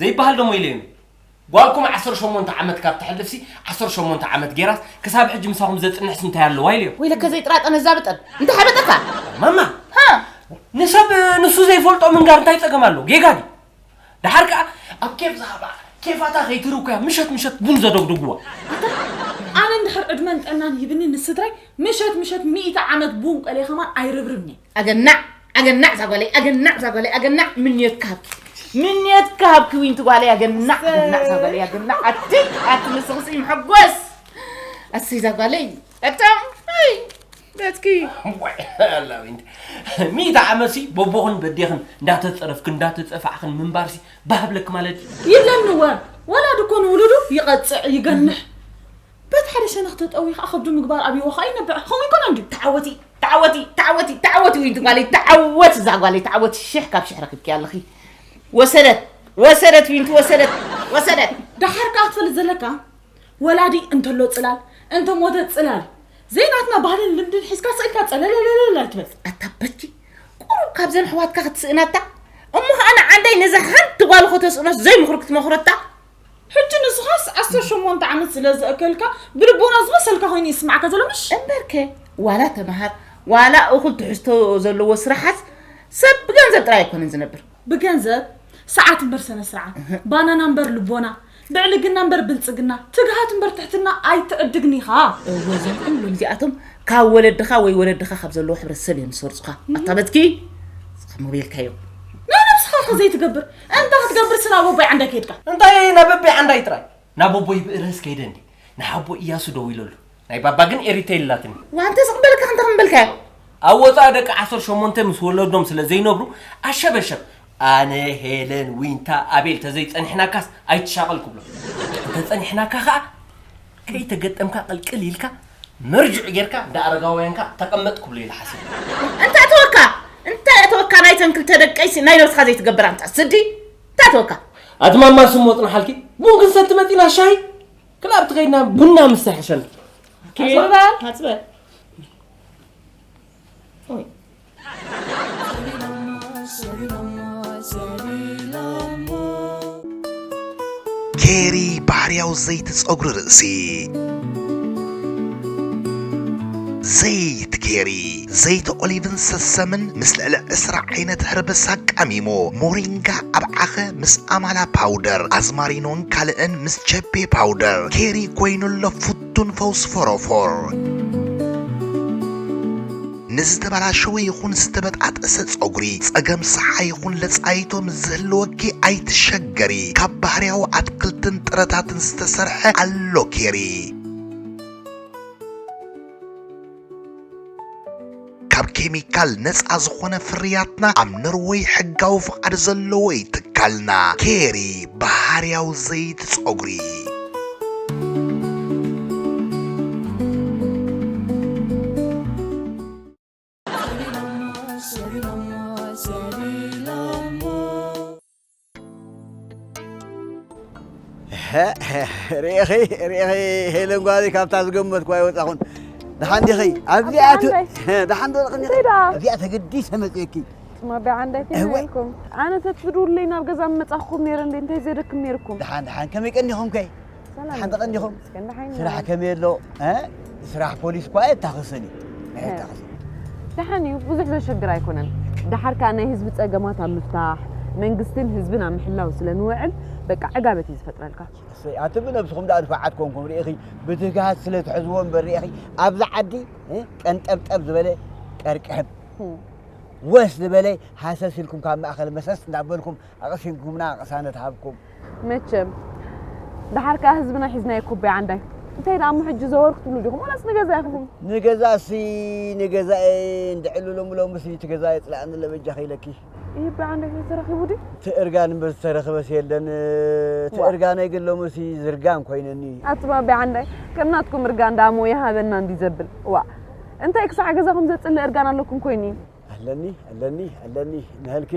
ዘይበሃል ደሞ ኢለዮም ጓልኩም 18 ዓመት ካብ ተሕልፍሲ 18 ዓመት ጌራስ ክሳብ ሕጂ ምሳኹም ዘፅንሕሲ እንታይ ኣለዋ ኢለዮም ወይ ለከ ዘይጥራጠነ ዛብጠን እንታይ ሓበጠካ ማማ ንሰብ ንሱ ዘይፈልጦ ምንጋር እንታይ ፀገም ኣለዎ ጌጋ ድዩ ድሓር ከዓ ኣብ ኬፍ ዝሃባ ኬፋታ ከይትርኩያ ምሸት ምሸት ቡን ዘደግድጉዋ ኣነ እንድሕር ዕድመን ጥዕናን ሂብኒ ንስድራይ ምሸት ምሸት ሚእቲ ዓመት ቡን ቆልየ ከማን ኣይርብርብን እየ ኣገናዕ ኣገናዕ እዛ ጓለይ ኣገናዕ እዛ ጓለይ ኣገናዕ ምንዮት ክሃብኪ ምንዮት ክሃብኪ ዊንቲ ጓለይ ኣገናዕ ኣገናዕ እዛ ጓለይ ኣገናዕ ኣቲ ኣቲ ንስኽሲ መሐጎስ ኣሰይ እዛ ጓለይ ኣቶም ኣይ በትኪ ሚእቲ ዓመትሲ በቦኽን በዴኽን እንዳተፀረፍክን እንዳተፀፋዕኽን ምንባርሲ ባህብለክ ማለት ይብለኒ ወ ወላድ እኮ ንውሉዱ ይቐፅዕ ይገንሕ በቲ ሓደ ሸነኽ ተጠውዩ ከኣ ከብዱ ምግባር ኣብይዎ ከኣ ይነብዕ። ከምኡ ኣይኮነን ድዩ? ተዓወቲ ተዓወቲ ተዓወቲ ተዓወቲ ውይድ ጓለይ ተዓወቲ እዛ ጓለይ ተዓወቲ ሽሕ ካብ ሽሕ ረኪብኪያ ኣለኺ ወሰደት ወሰደት ዊንቲ ወሰደት ወሰደት ደሓር ከኣ ትፈልጥ ዘለካ ወላዲ እንተሎ ጽላል እንተ ሞተ ጽላል ዘይናትና ባህልን ልምድን ሒዝካ ስእልካ ጸለለለለል ኣይትበል ኣታ በቲ ቁሩብ ካብዘን ኣሕዋትካ ክትስእናታ እሞ ከኣ ንዓንዳይ ነዛ ሓንቲ ጓል ከተስእኖስ ዘይምኽሪ ክትመኽረታ ሕጂ ንስኻስ ዓሰርተ ሸሞንተ ዓመት ስለ ዘእከልካ ብልቦና ዝመሰልካ ኮይኑ ይስማዕካ ዘሎ ምሽ እምበርከ ዋላ ተምሃር ዋላ እኹል ትሕዝቶ ዘለዎ ስራሓት ሰብ ብገንዘብ ጥራይ ኣይኮነን ዝነብር ብገንዘብ ሰዓት እምበር ሰነ ስርዓት ባናና እምበር ልቦና ብዕልግና እምበር ብልጽግና ትግሃት እምበር ትሕትና ኣይትዕድግን ኢኻ እወ እዞም ኩሎም እዚኣቶም ካብ ወለድኻ ወይ ወለድኻ ካብ ዘለዎ ሕብረተሰብ እዮም ዝሰርጹኻ ኣታ በትኪ ዝኸሞ ቤልካዮ ናይ ነብስኻ ከ ዘይትገብር እንታይ ክትገብር ስና ቦቦይ ዓንዳይ ከይድካ? እንታይ ናበበይ ዓንዳይ ጥራይ ናብ ቦቦይ ብእርህስ ከይደ እንዲ ንሓቦ እያሱ ደዊለሉ ናይ ባባ ግን ኤሪቴል ኣላትኒ ዋንተ ዝቕበልካ እንታይ ክንበልካዮ ኣብ ወፃኢ ደቂ ዓሰርተ ሸሞንተ ምስ ወለዶም ስለ ዘይነብሩ ኣሸበሸብ ኣነ ሄለን ዊንታ ኣቤል ተዘይፀኒሕናካስ ኣይትሻቐል ክብሎ እንተፀኒሕናካ ከዓ ከይተገጠምካ ቅልቅል ኢልካ መርጅዕ ጌርካ እንዳ ኣረጋውያንካ ተቐመጥ ክብሎ ኢለ ሓሲበ። እንታይ ኣተወካ እንታይ ኣተወካ ናይተን ክልተ ደቀይሲ ናይ ነብስኻ ዘይትገብር ኣንታ ስዲ እንታይ ኣተወካ። ኣቲ ማማ ስሙ ወጽናሓልኪ ቡን ክንሰቲ መጺና ሻሂ ክላብቲ ከይድና ቡና ምስ ተሕሸና። ኪርባ ታጽበ ኬሪ ባህርያዊ ዘይቲ ጸጉሪ ርእሲ ዘይቲ ኬሪ ዘይቲ ኦሊቭን ሰሰምን ምስ ልዕሊ ዕስራ ዓይነት ህርብስ ኣቃሚሙ ሞሪንጋ ኣብ ዓኸ ምስ ኣማላ ፓውደር ኣዝማሪኖን ካልእን ምስ ቸቤ ፓውደር ኬሪ ኮይኑ ኣሎ ፍቱን ፈውሲ ፎሮፎር ንዝተበላሸወ ይኹን ዝተበጣጠሰ ጸጉሪ፣ ጸገም ሰሓ ይኹን ለጻይቶ ምስ ዝህልወኪ ኣይትሸገሪ፣ ካብ ባህርያዊ ኣትክልትን ጥረታትን ዝተሰርሐ ኣሎ ኬሪ። ካብ ኬሚካል ነጻ ዝኾነ ፍርያትና ኣብ ኖርወይ ሕጋዊ ፍቓድ ዘለዎ እዩ ትካልና። ኬሪ ባህርያዊ ዘይቲ ጸጉሪ። ርኢኺ ርኢኺ ሄለን ጓለይ ካብታ ዝገመትኩ ኣይወፃኹን። ደሓን ዲኺ? ኣብዚኣ ተ- ደሓን ዶ ርኢኺ? ኣብዚኣ ተገዲሰ መፅየኪ ስማ ቢዓ እንታይ ፊልም እህወይ። ሪእኩም ኣነ ተትፍድውለይ ናብ ገዛ ምመጻኹኩም ነይረ እንዴ እንታይ ዘደክም ነይርኩም ድሓን ድሓን ከመይ ቀኒኹም ከ ሰላም ሓንቲ ይኹን ቀኒኹም ይመስገን ደሓን ኢና። ስራሕ ከመይ ኣሎ እ? ስራሕ ፖሊስ እኳ ኣየታኽስን እዩ ኣየታኽስን ደሓን እዩ ብዙሕ ዘሸግር ኣይኮነን ደሓር ከኣ ናይ ህዝቢ ጸገማት ኣብ ምፍታሕ መንግስትን ህዝብን ኣብ ምሕላው ስለ ንውዕል በቃ ዕጋበት እዩ ዝፈጥረልካ እሰይ ኣቲ ብነብስኹም ደኣ ንፉዓት ኮንኩም ርኢኺ ብትግሃት ስለ ትሕዝዎ እምበር ርኢኺ ኣብዚ ዓዲ እ? ቀንጠብጠብ ዝበለ ቀርቅሕብ ወስ ዝበለ ሃሰስ ኢልኩም ካብ ማእኸል መሰስ እንዳበልኩም ኣቕሲንኩምና ቅሳነት ሃብኩም። መቸም ደሓር ከኣ ህዝብና ሒዝናዮ ኩባይ ዓንዳይ እንታይ ደኣ እሞ ሕጂ ዘወር ክትብሉ ዲኹም ዋላስ ንገዛ ኢኹም? ንገዛሲ ንገዛኤ እንድዕሉ ሎሚ ሎምሲ እቲ ገዛ የጽላእኒ ኣሎ በጃኺ ኢለኪ። ይህ ብዓንዳይ ተተረኺቡ ድዩ? እቲ እርጋን እምበር ዝተረኽበስ የለን። እቲ እርጋነይ ግን ሎምሲ ዝርጋን ኮይነኒ። ኣቱም ኣቢ ዓንዳይ ከም ናትኩም እርጋን ደኣ እሞ ይሃበና እንድዩ ዘብል ዋእ። እንታይ ክሳዕ ገዛ ከም ዘጽልእ እርጋን ኣለኩም ኮይኒ። ኣለኒ ኣለኒ ኣለኒ ንሀልኪ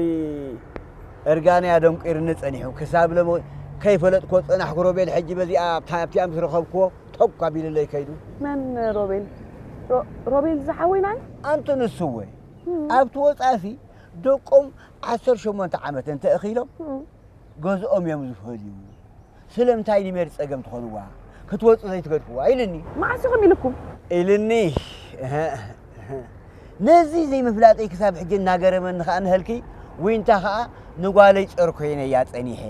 እርጋነይ ኣደንቂርኒ ጸኒሑ ክሳብ ሎሚ ከይፈለጥክዎ ዝጸናሕኩ ሮቤል ሕጂ በዚኣ ኣብታ ኣብቲኣ ምስ ረኸብክዎ ቶግ ኣቢሉለይ ከይዱ። መን ሮቤል? ሮ- ሮቤል ዝሓወይ ናይ ኣንቲ ንሱ እወ ኣብቲ ወጻእሲ ደቆም ዓሰርተ ሸሞንተ ዓመት እንተ እኺሎም ገዝኦም እዮም ዝፈልዩ። ስለምታይ ንሜሪ ጸገም ትኾንዋ ክትወጽእ ዘይትገድፍዋ ኢልኒ። መዓስ ኢኹም ኢሉኩም? ኢልኒ። ነዚ ዘይምፍላጠይ ክሳብ ሕጂ እናገረመኒ ከኣ ንሀልኪ ዊንታ ከኣ ንጓለይ ጸር ኮይነያ ጸኒሐ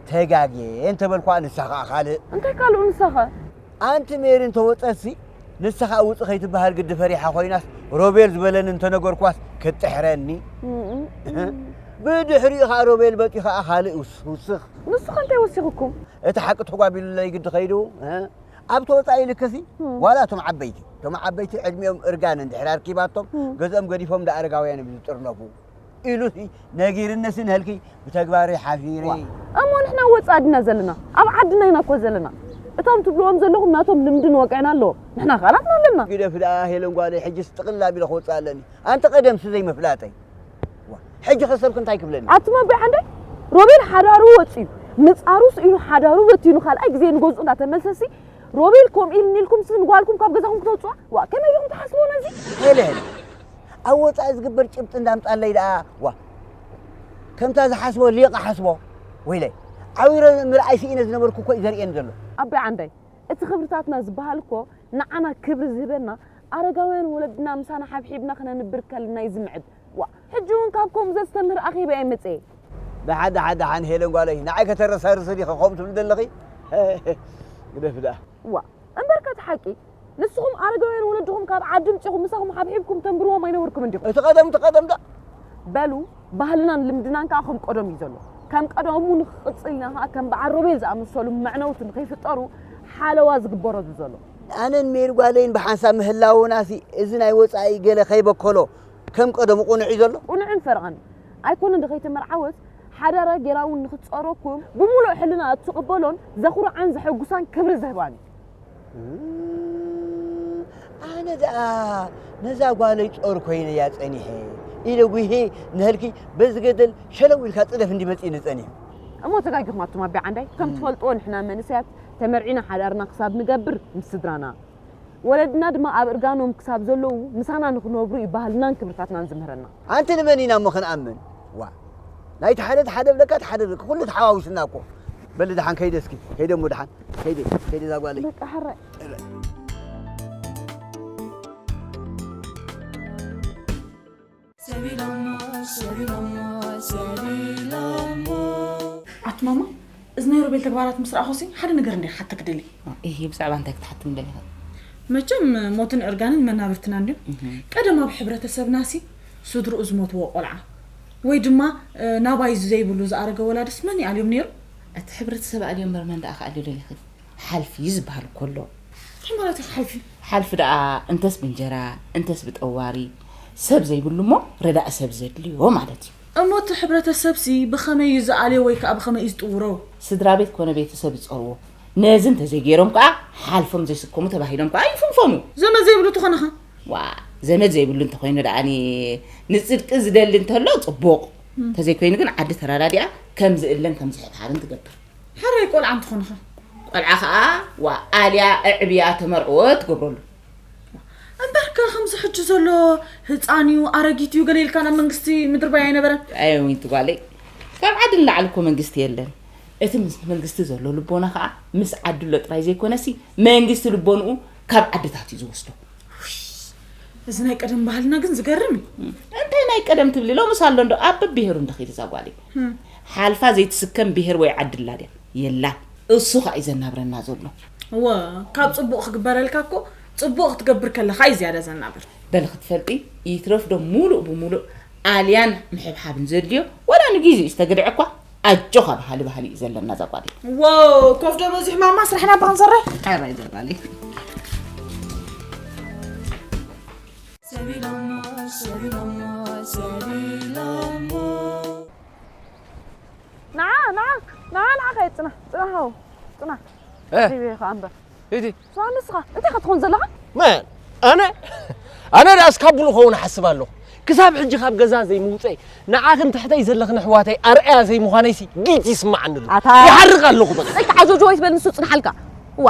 ተጋግየ እንተበልኩዋ ንሳ ከኣ ካልእ። እንታይ ካልኡ ንሳኸ? ኣንቲ ሜሪ እንተ ወጸትሲ ንስኻ ውጺ ከይትበሃል ግዲ ፈሪሓ ኮይናስ ሮቤል ዝበለኒ እንተ ነገርኳስ ክትጥሕረኒ ብድሕሪኡ ከኣ ሮቤል በጺ ከኣ ካልእ ውስኽ ንስኻ እንታይ ወሲኹኩም እቲ ሓቂ ተጓቢሉለይ ግዲ ከይዱ ኣብ ተወጻኢ ልክሲ ዋላ እቶም ዓበይቲ እቶም ዓበይቲ ዕድሚኦም እርጋን እንድሕር ኣርኪባቶም ገዝኦም ገዲፎም ዳኣረጋውያን እዮም ዝጥርነፉ ኢሉሲ ነጊርንስ ንህልኪ ብተግባረይ ሓፊረ። እሞ ንሕና ወጻኢ ድና ዘለና ኣብ ዓድና ኢና እኮ ዘለና እቶም ትብልዎም ዘለኹም ናቶም ልምድን ወግዕን ኣለዎም ንሕና ከኣ ናትና ኣለና። ግደፊ ደኣ ሄለን ጓለይ ሕጅስ ጥቕልል ኣቢለ ክወጽእ ኣለኒ ኣንቲ ቀደምሲ ዘይምፍላጠይ ሕጂኸ ሰብኪ እንታይ ክብለኒ ኣትመብዕ ዓንደይ ሮቤል ሓዳሩ ወጽዩ ምጻሩ ስኢኑ ሓዳሩ በቲኑ ካልኣይ ግዜ ንገዝኡ እንዳተመልሰሲ ሮቤል ከምኡ ኢልኒ ኢልኩም ስን ጓልኩም ካብ ገዛኹም ክትወጽዋ ዋ ከመይ ኢልኩም ትሓስብዎ ነዚ ሄለን ኣብ ወጻኢ ዝግበር ጭብጢ እንዳምጻለይ ደኣ ዋእ ከምታ ዝሓስቦ ሊቕ ኣሓስቦ ወይለይ ዓዊረ ምርኣይ ስኢነ ዝነበርኩ እኮ እዩ ዘርእየኒ ዘሎ። ኣቢ ዓንደይ እቲ ክብርታትና ዝብሃል እኮ ንዓና ክብሪ ዝህበና ኣረጋውያን ወለድና ምሳና ሓብሒብና ክነንብር ከለና እዩ ዝምዕድ ዋእ ሕጂ ውን ካብ ከምኡ ዘስተምህር ኣኼባ እየ መጽየ ደሓን ደሓን ደሓን ሄለን ጓለይ ንዓይ ከተረሳርሲ ዲኺ ከምኡ ትብሊ ዘለኺ ግደፊ ደኣ። ዋእ እምበርካ እቲ ሓቂ ንስኹም ኣረጋውያን ወለድኹም ካብ ዓዲ ምጺኹም ምሳኹም ሓብሒብኩም ተንብርዎም ኣይነበርኩምን ዲኹም? እቲ ቀደም እቲ ቀደም ደኣ በሉ ባህልናን ልምድናን ከኣ ከም ቀደሙ እዩ ዘሎ። ከም ቀደሙ ንክቕጽል ኢና ከኣ ከም በዓል ሮቤል ዝኣመሰሉ መዕነውቲ ንከይፍጠሩ ሓለዋ ዝግበረሉ ዘሎ። ኣነን ሜሪ ጓለይን ብሓንሳብ ምህላውናሲ እዚ ናይ ወጻኢ ገለ ከይበከሎ ከም ቀደሙ ቅኑዕ እዩ ዘሎ? ቅኑዕን ፈረቓን ኣይኮነን ዶ ከይተመርዓወት ሓዳራ ጌራ ውን ንክትጸሮኩም ብሙሉእ ሕልናኣ እትቅበሎን ዘኹርዓን ዘሐጉሳን ክብሪ ዝህባን እዩ። ኣነ ደኣ ነዛ ጓለይ ጾር ኮይነያ ጸኒሐ ኢለ ጉሂ ንሀልኪ በዚ ገደል ሸለው ኢልካ ጽደፍ እንዲ መጺኒ ጸኒሑ። እሞ ተጋጊኹም ኣቱም ኣቢ ዓንዳይ ከም ትፈልጥዎ ንሕና መንእሰያት ተመርዒና ሓዳርና ክሳብ ንገብር ምስ ስድራና ወለድና ድማ ኣብ እርጋኖም ክሳብ ዘለዉ ምሳና ንኽነብሩ እዩ ባህልናን ክብርታትናን ዝምህረና። ኣንቲ ንመን ኢና እሞ ክንኣምን ዋእ ናይቲ ሓደ እቲ ሓደ እብለካ እቲ ሓደ እብለካ ኩሉ ተሓዋዊስና እኮ በሊ ደሓን ከይደ እስኪ ከይደ እሞ ደሓን ከይደ ከይደ እዛ ጓለይ በቃ ሕራይ ኣቲ ማማ እዚ ናይ ሮቤል ተግባራት ምስ ረኣኹሲ ሓደ ነገር እንደ ሓተ ክደሊ እሂ ብዛዕባ እንታይ ክትሓቲ ምደሊ ኸ መቸም ሞትን ዕርጋንን መናብርትና እንድዮም ቀደም ኣብ ሕብረተሰብናሲ ስድርኡ ዝሞትዎ ቆልዓ ወይ ድማ ናባይ ዘይብሉ ዝኣረገ ወላድስ መን ይኣልዮም ነይሩ እቲ ሕብረተሰብ ኣልዮ እምበር መን ደኣ ክኣልዮ ደሊኺ ሓልፍ እዩ ዝበሃል ኮሎ ታይ ማለት እዩ ሓልፍ እዩ። ሓልፍ ደኣ እንተስ ብእንጀራ እንተስ ብጠዋሪ ሰብ ዘይብሉ እሞ ረዳኢ ሰብ ዘድልዮ ማለት እዩ። እሞ እቲ ሕብረተሰብሲ ብኸመይ እዩ ዝኣልዮ ወይ ከኣ ብኸመይ እዩ ዝጥውሮ? ስድራቤት ኮነ ቤተሰብ ዝጸርዎ ነዚ እንተዘይገይሮም ከኣ ሓልፎም ዘይስከሙ ተባሂሎም ከኣ ይፍንፈኑ። ዘመድ ዘይብሉ እንተኾነ ከ? ዋእ ዘመድ ዘይብሉ እንተኾይኑ ደኣ ንጽድቂ ዝደሊ እንተሎ ጽቡቕ፣ እንተዘይኮይኑ ግን ዓዲ ተረዳዲኣ ከም ዝእለን ከም ዝሕብሓብን ትገብር። ሕራይ ቆልዓ እንትኾንኸ? ቆልዓ ከኣ ዋ ኣልያ እዕብያ ተመርዕወ ትገብረሉ። እምበርከ ከምዚ ሕጂ ዘሎ ህፃን እዩ ኣረጊት እዩ ገለ ኢልካ ናብ መንግስቲ ምድርባይ ኣይነበረን። ኣየ ዊንቲ ጓለይ ካብ ዓዲ ንላዕሊ እኮ መንግስቲ የለን። እቲ ምስ መንግስቲ ዘሎ ልቦና ከዓ ምስ ዓድሎ ጥራይ ዘይኮነሲ መንግስቲ ልቦንኡ ካብ ዓድታት እዩ ዝወስዶ። እዚ ናይ ቀደም ባህልና ግን ዝገርም እዩ። እንታይ ናይ ቀደም ትብሊ ሎምስ ኣሎ እንዶ ኣብ ብሄሩ እንደኺድ እዛ ጓለይ ህም ሓልፋ ዘይትስከም ብሄር ወይ ዓዲ ኣላ ድያ? የላን። እሱ ኸኣ እዩ ዘናብረና ዘሎ። እወ ካብ ጽቡቕ ክግበረልካ እኮ ጽቡቕ ክትገብር ከለኻ እዩ ዝያዳ ዘናብር። በሊ ክትፈልጢ ይትረፍ ዶ ሙሉእ ብሙሉእ ኣልያን ምሕብሓብን ዘድልዮ ወላ ንጊዜኡ ዝተግድዐ እኳ ኣጆኻ በሃሊ ባህሊ እዩ ዘለና እዛ ጓል። ዋው ኮፍ ዶ በዚሑ ማማ ስራሕና ባንሰራይ። ኣራይ ዘባለይ። ንዓ ንዓ ንዓ ንዓ ከይድ ፅና ፅና ሃው ፅና ሪበ ከዓ እምበር እቲ ስማ ንስኻ እንታይ ከትኾን ዘለኻ መን ኣነ ኣነ ደኣ እስካብ ብሉ ከውን ሓስብ ኣለኹ ክሳብ ሕጂ ካብ ገዛ ዘይምውፀይ ንዓኽን ትሕተይ ዘለኽን ኣሕዋተይ ኣርኣያ ዘይምዃነይሲ ጊጅ ይስማዓኒ ኣሎ ይሓርቕ ኣለኹ በቃ ጆጆ ወይ ትበል ንሱ ፅንሓልካ እዋ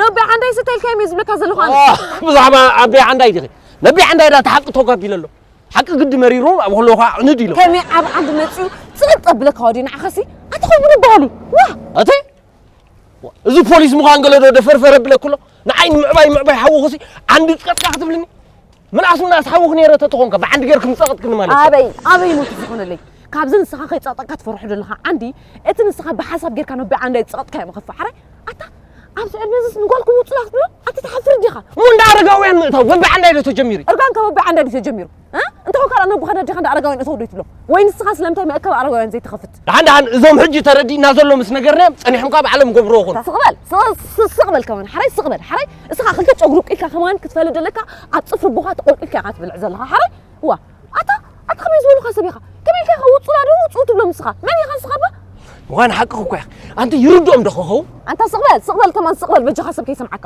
ነቢ ዓንዳይ ስተልካዮም እዩ ዝብለካ ዘለኹ ኣነ ብዛዕባ ኣቢ ዓንዳይ ዲኺ ነቢ ዓንዳይ ዳ ተሓቂ ተጓቢ ለሎ ሓቂ ግዲ መሪሩ ኣብ ከለኹ ዕንድ ኢሎ ከመይ ኣብ ዓንዲ መፅኡ ፅቕጥ ኣብለካ ወዲ ንዓኸሲ ኣቲ ከምኡ ንበሃሉ ዋ እቲ እዚ ፖሊስ ምዃን ገለዶ ደፈርፈር ኣብለክሎ ንዓይ ንምዕባይ ምዕባይ ሓወኹሲ ዓንዲ ፅቀጥካ ክትብልኒ ምልኣስ ምልኣስ ሓውኽ ነይረ ተትኾንከ ብዓንዲ ጌርኩም ጸቕጥክኒ ማለት ኣበይ ኣበይ ሞት ዝኾነለይ ካብዚ ንስኻ ከይጸቕጠካ ትፈርሑ ዘለኻ ዓንዲ እቲ ንስኻ ብሓሳብ ጌርካ ነቢ ዓንዲ ኣይጸቕጥካዮ ምኽፍ ሓራይ ኣታ ኣብዚ ዕድመ እዚስ ንጓል ክውፅ ክትብሎ ኣቲ ትሓፍር ዲኻ እሞ እንዳ ኣረጋውያን ምእታው በቢ ዓንዳይ ዶ ተጀሚሩ እርጋንካ በቢ ዓንዳይ ዶ ተጀሚሩ እንተ ካልኣ ነቦኻ ነዴኻ እንዳ ኣረጋውያን እተው ዶ ይትብሎ ወይ ንስኻ ስለምንታይ መእከቢ ኣረጋውያን ዘይትኸፍት ድሓን ድሓን እዞም ሕጂ ተረዲእና ዘሎ ምስ ነገርናዮም ጸኒሖም ካብ ዓለም ገብሮ ይኹን ስቕ በል ስቕ- ስቕ በል ከማን ሓራይ ስቕ በል ሓራይ እስኻ ክልተ ጨጉሪ ውቂልካ ከማን ክትፈሊ ዘለካ ኣብ ጽፍሪ ቦኻ ተቖልቂልካ ኢኻ ትብልዕ ዘለኻ ሓራይ እዋ ኣታ ኣታ ከመይ ዝበሉኻ ሰብ ኢኻ ከመይ ኢልካ ኢኻ ውጹላ ዶ ውጹኡ ትብሎም ንስኻ መን ኢኻ ንስኻ እባ ምዃን ሓቅኺ እኮ ኢኺ ኣንቲ ይርድኦም ዶ ክኸውን ኣንታ ስቕ በል ስቕ በል ከማን ስቕ በል በጃኻ ሰብ ከይሰምዓካ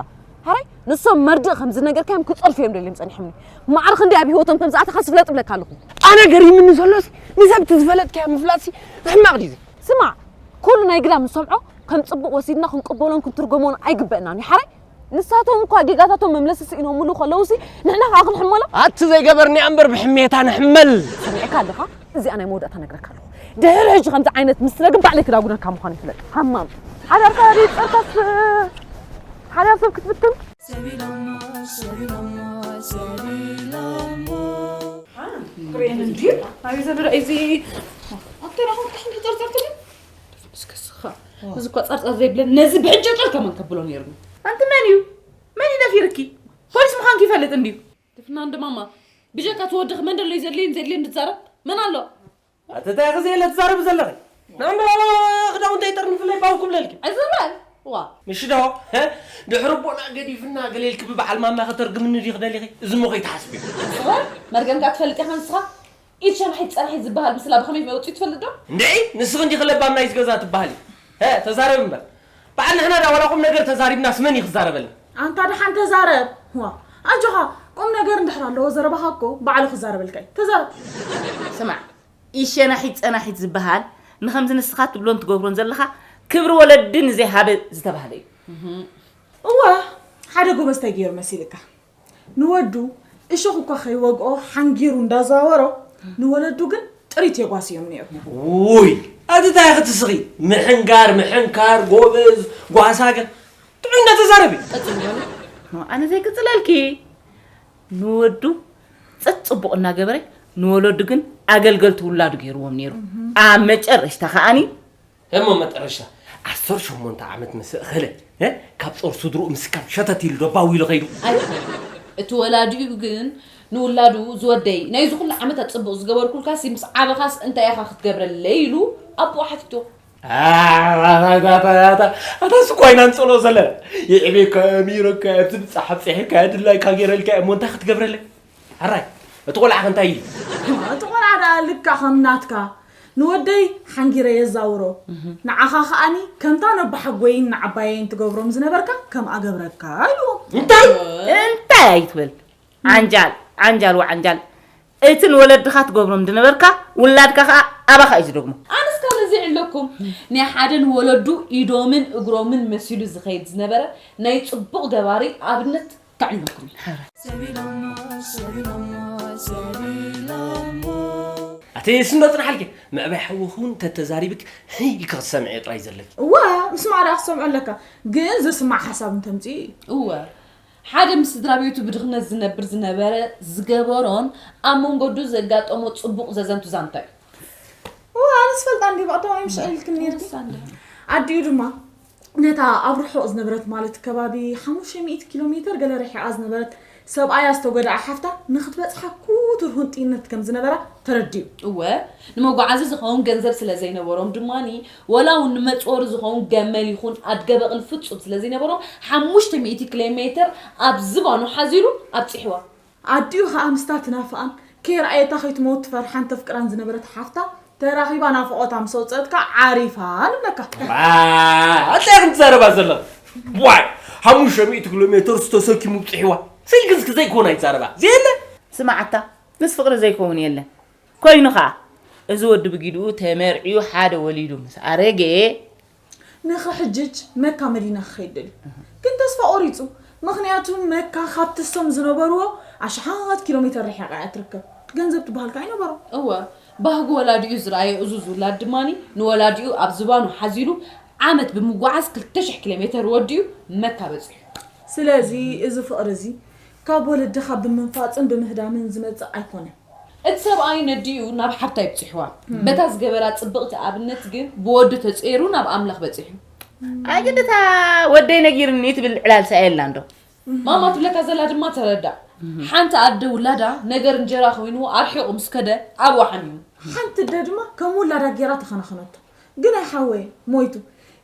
ሃራይ ንሶም መርድእ ከም ዝነገርካዮም ክጸርፉ እዮም ደልዮም ጸኒሖምኒ ማዕረ ክንዲ ኣብ ህይወቶም ከም ዝኣተኻ ስፍለጥ ብለካ ኣለኹ ኣነ ገሪምኒ ዘሎሲ ንሰብቲ ዝፈለጥካዮ ምፍላጥሲ ሕማቕ ድዩ ስማዕ ኩሉ ናይ ግዳም ንሰምዖ ከም ጽቡቕ ወሲድና ክንቅበሎን ክንትርጎሞን ኣይግበእናን እዩ ሓራይ ንሳቶም እኳ ጌጋታቶም መምለሲ ስኢኖምሉ ከለውሲ ንሕና ከዓ ክንሕመሎም ኣቲ ዘይገበርኒ እምበር ብሕሜታ ንሕመል ሰሚዕካ ኣለኻ እዚኣ ናይ መወዳእታ ነግረካ ኣለኹ ድሕሪ ሕጂ ከምዚ ዓይነት ምስ ትደግም ባዕለይ ክዳጉነካ ምዃኑ ይፍለጥ ሃማም ሓዳርካ ይጸርካስ ሓዳር ሰብ ክትብትን እዚ እኳ ጸርጸር ዘይብለን ነዚ ብሕጂ ጸር ከመን ከብሎ ነይርኒ ኣንቲ መን እዩ መን እዩ ደፊርኪ ፖሊስ ምዃንኪ ይፈልጥ እንድዩ ድፍና እንደ ማማ ብጀካ ትወድኺ መን ደሎዩ ዘድልየን ዘድልየን ዝዛረብ መን ኣሎ? ኣቲ እንታይ ኢኺ ዘየለ ትዛረቢ ዘለኺ ናምበር ክዳውንተይ ጠርኒፍለይ ባው ክብለልኪ። ዕዝር በል ዋእ። እሺ ዶ ድሕሪ ኣቦና ገዲፍና ገለ ኢልኪ ብበዓል ማማ ከተርግምኒ ዲኺ ደሊኺ እዚሞ ከይትሓስብዮ። እወ መርገምካ ትፈልጥ ኢኻ ንስኻ ኢድ ሸናሒት ጸናሒት ዝበሃል ምስላ ብኸመይ መውጺኡ ትፈልጥ ዶ? እንድዒ ንስኺ እንዲኺ ለባም ናይዚ ገዛ ትበሃሊ። ሀ ተዛረቢ እምበር። በዓል ንሕና ድኣ ዋላ ቁም ነገር ተዛሪብናስ መን እዩ ክዛረበልና? ኣንታ ደሓን ተዛረብ። ዋእ ኣጆኻ ቁም ነገር እንድሕር ኣለዎ ዘረባኻ እኮ ባዕሉ ክዛረበልካ እዩ። ተዛረብ። ስማዕ ኢድ ሸናሒት ጸናሒት ዝበሃል ንኸምዚ ንስኻ ትብሎን ትገብሮን ዘለኻ ክብሪ ወለዲ ንዘይሃበ ዝተባህለ እዩ። እወ ሓደ ጎበዝ ታይ ገይሩ መሲልካ? ንወዱ እሾኽ እኳ ከይወግኦ ሓንጊሩ እንዳዛወሮ ንወለዱ ግን ጥሪት የጓስዮም ነይሩ። ውይ ኣቲ ታይ ኢኺ ትስኺ ምሕንጋር ምሕንካር ጎበዝ ጓሳ ገ ጥዑይ እንዳተዛረቢ ኣነ ዘይቅፅለልኪ ንወዱ ፀጥ ፅቡቕ እናገበረ ንወለዱ ግን ኣገልገልቲ ውላዱ ገይርዎም ነይሩ ኣብ መጨረሽታ ከዓኒ እሞ መጠረሻ ዓሰርተ ሸሞንተ ዓመት ምስ እኸለ እ፣ ካብ ጾር ስድርኡ ምስካብ ሸተት ኢሉ ደባዊ ኢሉ ኸይዱ እቲ ወላዲኡ ግን ንውላዱ ዝወደይ ናይ እዚ ኩሉ ዓመታት ጽቡቕ ዝገበርኩልካሲ ምስ ዓበኻስ እንታይ ኢኻ ክትገብረለይ ኢሉ ኣቦኡ ሓቲቶ ኣታ ስኳይ ናንጸሎ ዘለና ይዕቤካ ሚረካ ኣብቲ ብጻሓት ጺሒካ ድላይካ ገይረልካ እሞ እንታይ ክትገብረለይ ሕራይ እቲ ቆልዓ ከ እንታይ እዩ? እቲ ቆልዓ ደኣ ልክዕ ከም ናትካ ንወደይ ሓንጊረ የዛውሮ፣ ንዓኻ ከኣኒ ከምታ ነቦሓጎይን ንዓባየይን ትገብሮም ዝነበርካ ከምኣ ገብረካ ኢልዎ። እንታይ እንታይ ኣይትበል ዓንጃል ዓንጃል ወዓንጃል እቲ ንወለድኻ ትገብሮም ዝነበርካ ውላድካ ከኣ ኣባኻ እዩ ዝደግሞ። ኣነስ ካብ እዚ ይዕለኩም ናይ ሓደ ንወለዱ ኢዶምን እግሮምን መሲሉ ዝኸይድ ዝነበረ ናይ ጽቡቕ ገባሪ ኣብነት ከዕልለኩም። ኣቲ ስንዶ ጽናሓልኪ ምዕባይ ሓውኺ እውን ተተዛሪብክ ህይ ኢልኪ ክትሰምዕዮ ጥራይ ዘለኪ እወ ምስማዕ ደኣ ክትሰምዖ ኣለካ ግን ዝስማዕ ሓሳብ እንተምፅ እወ ሓደ ምስ ስድራ ቤቱ ብድኽነት ዝነብር ዝነበረ ዝገበሮን ኣብ መንገዱ ዘጋጠሞ ፅቡቕ ዘዘንቱ ዛንታ እዩ እወ ኣነስ ፈልጣ እንዲ ባእታዊ ምሻ ኢልክኒ ኣዲኡ ድማ ነታ ኣብ ርሑቕ ዝነበረት ማለት ከባቢ ሓሙሽተ ሚእቲ ኪሎ ሜተር ገለ ርሒቓ ዝነበረት ሰብኣያ ዝተጎድኣ ሓፍታ ንኽትበጽሓ ክቱር ሁንጥይነት ከም ዝነበራ ተረዲኡ። እወ፣ ንመጓዓዚ ዝኸውን ገንዘብ ስለ ዘይነበሮም ድማ ወላ እውን ንመጽወሪ ዝኸውን ገመል ይኹን ኣድገ በቕሊ ፍጹም ስለ ዘይነበሮም ሓሙሽተ ሚእቲ ክሌሜተር ኣብ ዝባኑ ሓዚሉ ኣብጺሕዋ። ኣዲኡ ከኣ ምስታ ትናፍቓን ከይረኣየታ ከይትመውት ትፈርሓን ተፍቅራን ዝነበረት ሓፍታ ተራኺባ ናፍቖታ ምስ ኣውጸኣት ከኣ ዓሪፋ ንብለካ። ኣኣ እንታይ ኢኺ ትዛረባ ዘለኺ ዋይ ሓሙሽተ ሚእቲ ኪሎ ሜተርስ ተሰኪሙ ኣብጺሕዋ ስልኪ እስኪ ዘይኮን ኣይዛረባ ዘየለ ስምዓታ ምስ ፍቕሪ ዘይከውን የለን ኮይኑ ከኣ እዚ ወዲ ብጊድኡ ተመርዕዩ ሓደ ወሊዱ ምስ ኣረገ ንኽሕጅጅ መካ መዲና ክኸይድ ደልዩ ግን ተስፋ ቆሪጹ ምኽንያቱ መካ ካብቲ እሶም ዝነበርዎ ኣሽሓት ኪሎሜተር ርሒቓ እያ ትርከብ ገንዘብ ትበሃል ከኣ ኣይነበሮን። እወ ባህጊ ወላዲኡ ዝረኣየ እዙዝ ውላድ ድማ ንወላዲኡ ኣብ ዝባኑ ሓዚሉ ዓመት ብምጉዓዝ ክልተ ሽሕ ኪሎሜተር ወዲኡ መካ በጺሑ። ስለዚ እዚ ፍቕሪ እዚ ካብ ወለድኻ ብምንፋጽን ብምህዳምን ዝመጽእ ኣይኮነን። እቲ ሰብኣይ ነዲኡ ናብ ሓብታ ይብጺሕዋ በታ ዝገበራ ጽብቅቲ ኣብነት ግን ብወዱ ተጸይሩ ናብ ኣምላኽ በጺሑ። ኣይ ግዲ እታ ወደይ ነጊርኒ ትብል ዕላል ሰኣይ ኣላ እንዶ። ማማ ትብለካ ዘላ ድማ ተረዳእ። ሓንቲ ኣደ ውላዳ ነገር እንጀራ ኮይኑ ኣርሒቁ ምስ ከደ ዓርዋ ሓሚሙ። ሓንቲ ኣደ ድማ ከም ውላዳ ጌራ ተኸናኸነቶ። ግናይ ሓወይ ሞይቱ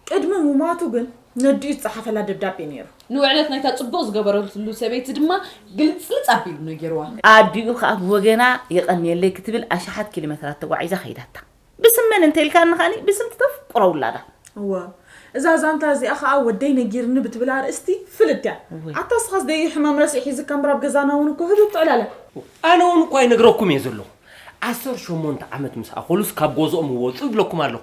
ቅድሚ ሙማቱ ግን ነዲኡ ዝጸሓፈላ ደብዳቤ ነይሩ። ንውዕለት ናይታ ጽቡቕ ዝገበረትሉ ሰበይቲ ድማ ግልጽልጽ ኣቢሉ ነጊርዋ። ኣዲኡ ከኣ ብወገና የቐንየለይ ክትብል ኣሽሓት ኪሎመትራት ተጓዒዛ ከይዳታ። ብስም መን እንተ ኢልካኒ ከኣ ብስም'ቲ ተፍቅሮ ውላዳ። እወ እዛ ዛንታ እዚኣ ከኣ ወደይ ነጊርኒ ብትብል ኣርእስቲ ፍልጥቲ'ያ። ኣታ እስኻስ ደዩ ሕማም ረስዒ ሒዝካ እምበር ኣብ ገዛና'ውን እኮ ህዱእ ትዕላለ። ኣነ'ውን እኳ ይነግረኩም'የ ዘለኹ። ዓሰርተ ሸሞንተ ዓመት ምስ ኣኸሉስ ካብ ጎዝኦም ይወጹ ይብለኩም ኣለኹ።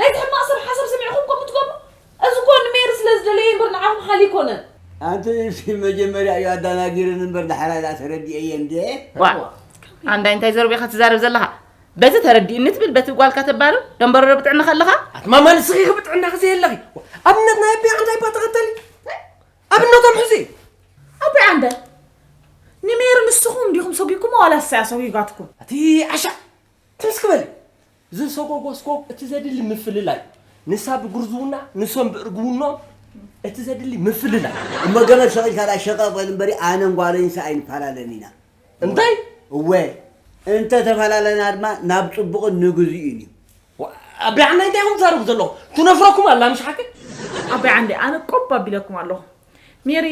ናይቲ ሕማቅ ሰብ ሓሳብ ሰሚዕኹም ከምኡ ትገብሩ እዚ እኮ ንሜሪ ስለ ዝደለየ እምበር ንዓኹም ሓልዪ ኣይኮነን። ኣንቲ ንስኪ መጀመርያ እዩ ኣዳናጊርኒ እምበር ዳሕራይ ዳኣ ተረዲኤየ እንዴ። ዋእ ኣንዳይ እንታይ ዘረቡ ኢኻ ትዛረብ ዘለኻ በቲ ተረዲእኒ ትብል በቲ ጓልካ ተባርር ደንበረሮ ብጥዕና ከለኻ ኣትማማ ንስኺ ኺ ብጥዕናኺ ዘየለኺ ኣብነት ናይ ኣቢ ዓንዳይ እባ ተኸተሊ ኣብነቶም ሕዚ ኣቢ ዓንዳይ ንሜሪ ንስኹም እንዲኹም ሰጒግኩማ ዋላ ንሳ እያ ሰጒጋትኩም እቲ ዓሻ ትምስ ክበሊ ዝሰጎጎ ስጎግ እቲ ዘድሊ ምፍልላይ ንሳ ብጉርዝውና ንሶም ብእርግውኖም እቲ ዘድሊ ምፍልላይ። እሞ ገመድ ሰቒልካ ድኣ ሸቐቕ በል እምበሪ ኣነን ጓለይንሲ ኣይንፈላለን ኢና። እንታይ? እወ እንተ ተፈላለና ድማ ናብ ጽቡቕን ንግዝኡን እዩ። ኣባይ ዓንዳይ እንታይ ኢኹም ትዛረቡ ዘለኹም ትነፍረኩም ኣላ ምሽ ሓቂ። ኣባይ ዓንዳይ ኣነ ቆብ ኣቢለኩም ኣለኹ ሜሪ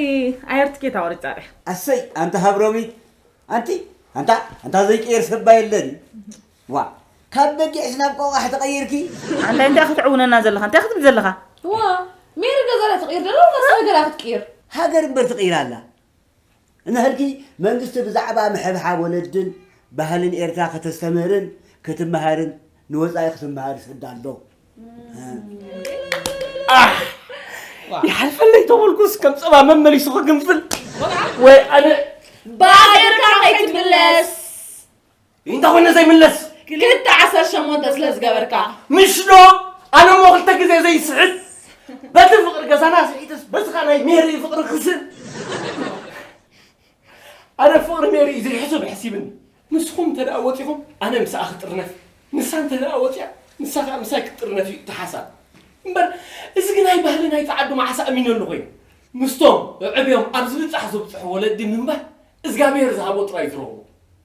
ኣየር ትኬት ኣወሪጻ ድያ። ኣሰይ ኣንታ ሃብሮሚት ኣንቲ ኣንታ ኣንታ ዘይቅየር ሰባ የለን እዩ። ዋእ ካብ በጊዕስ ናብ ቆቛሕ ተቐይርኪ? ኣንታይ እንታይ ክትዕውነና ዘለኻ እንታይ ክትብል ዘለኻ። እዋ ሜሪ ገዛ ዳ ትቕይር ደላ ወላስ ሃገራ ክትቅይር። ሃገር እምበር ትቕይር ኣላ እንሀልኪ መንግስቲ ብዛዕባ ምሕብሓብ ወለድን ባህልን ኤርትራ ከተስተምህርን ክትመሀርን ንወጻኢ ክትመሀር ሰዳ ኣሎ። ኣሕ ይሓልፈለይ ተበልኩስ ከም ጸባ መመሊሱ ክግንፍል ወይ ኣነ ብኣገርካ ከይትምለስ እንታ ኮይነ ዘይምለስ ክልተ ዓሰርተ ሸሞንተ ስለ ዝገበርካ ምሽ ዶ ኣነ እሞ ክልተ ግዜ ዘይስሕት በቲ ፍቅሪ ገዛና ስሒትስ በዚ ኸ ናይ ሜሪ ፍቅሪ ክስብ ኣነ ፍቅሪ ሜሪ እዩ ዘይሕሱብ ሕሲብኒ ንስኹም እንተ ደኣ ወፂኹም ኣነ ምስኣ ክጥርነፍ ንሳ እንተ ደኣ ወፂኣ ንሳ ከዓ ምሳይ ክትጥርነፍ እዩ እቲ ሓሳብ እምበር እዚ ግን ኣይ ባህሊ ናይ ፃዓዱ መዓሳ ኣሚነሉ ኮይኑ ምስቶም ዕዕብዮም ኣብ ዝብፃሕ ዝብፅሑ ወለዲ ምንባር እግዚኣብሔር ዝሃቦ ጥራይ ዝረኽቡ